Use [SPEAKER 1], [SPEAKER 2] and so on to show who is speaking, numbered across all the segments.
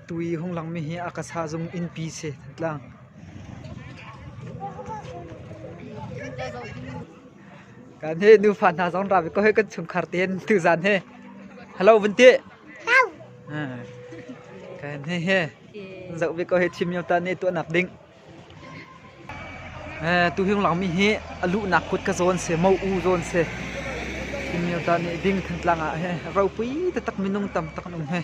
[SPEAKER 1] Tui hung langmi hi a kasa zung innpi si Thantlang. Kan he nufa hna zong ra ve ko he kan chungkhar te hin tu zan he hello vun ti. Kan he he zoh ve ko he thim yo ta ne tuah nak ding. Tuhing lawngmi hi a luhnak kut ka zawn seh, mo u zawn seh. Hi mioda nih ding Thantlang ah hi ropui taktak minung tamtak an um hei.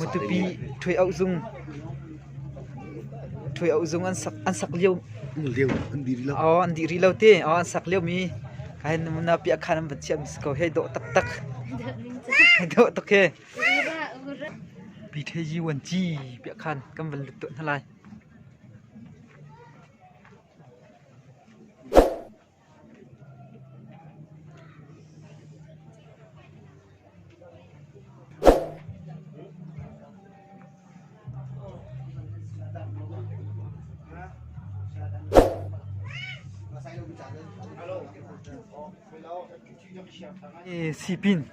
[SPEAKER 1] Mutupi thuai auh zung thuai auh zung an sak an sak liu liu an di lo oh an di ri lo te oh an sak liu mi kai na pia khan an van chiam ko he do tak tak do tak he Piṭheyi an ci piah khan kan van lut tuah hna lai. Sipin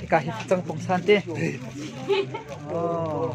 [SPEAKER 1] Hika hi cang pong san te. Oh.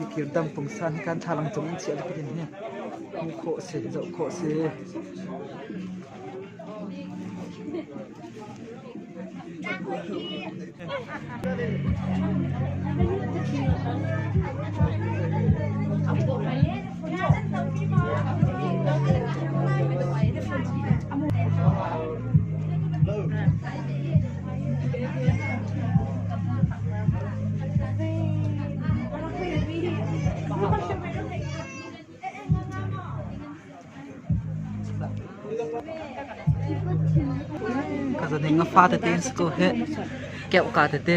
[SPEAKER 1] Mikir dang pungsan hi kan thalang cung in chiah dikin hin hmuh khawh a si, zoh khawh a si. Ka za ding a fa tete in school he keuh ka tete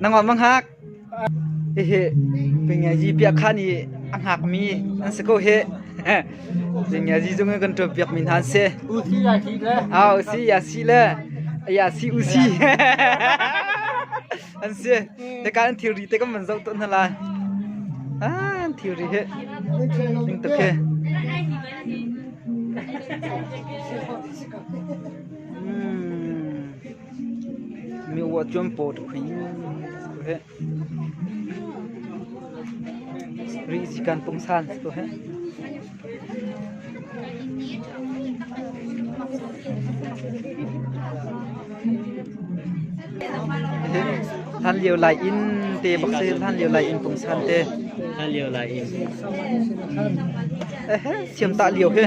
[SPEAKER 1] Na ngawt manghak. Hihi pingiazi piah khan hi a hngak mi an si ko hi. Pingiazi zung kan tuan piak mi hna an si. Usi ya si le. Ah usi ya si le. Ya si usi. An si. Te ka an thilri te kan man zau ton hna la. Ah an thilri hi. Ding tak he. Miuah cuan paw tuk hi heh. Rih sikan pungsan tu heh. Han liu lai in te bak se han liu lai in pungsan te. Hal liu lai in. Eh siam ta liu he.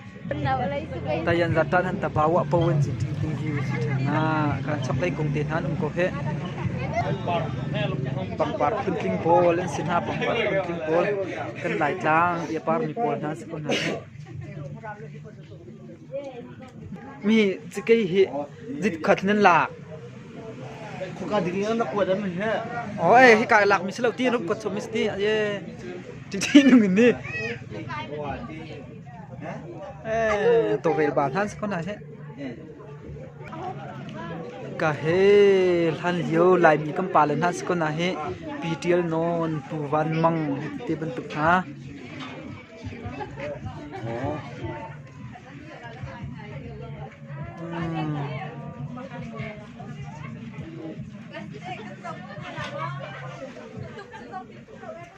[SPEAKER 1] Tayan Zatan han tapa wah po in sin ṭhing ṭhing hi si ṭhan na kan chaklei kung te hna an um ko he pangpar phun tling pawl an sin ha pangpar phun tling pawl kan lai tlang ia par mi pawl hna si ko hna mi cikei hi zit khat nan lak khoka ding na kuat am he o e hi kai lak mi selo ti rup ko chom mi sti ye tin tin nung ni Tawlrelba hlan si ko hna she. Ka he hlan lio Laimi kan pale hna si ko hna he pi tial non pu van mang te bantuk hna.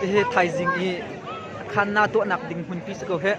[SPEAKER 1] Hihi thaizing i khanna tuahnak ding hmunpi si ko hih.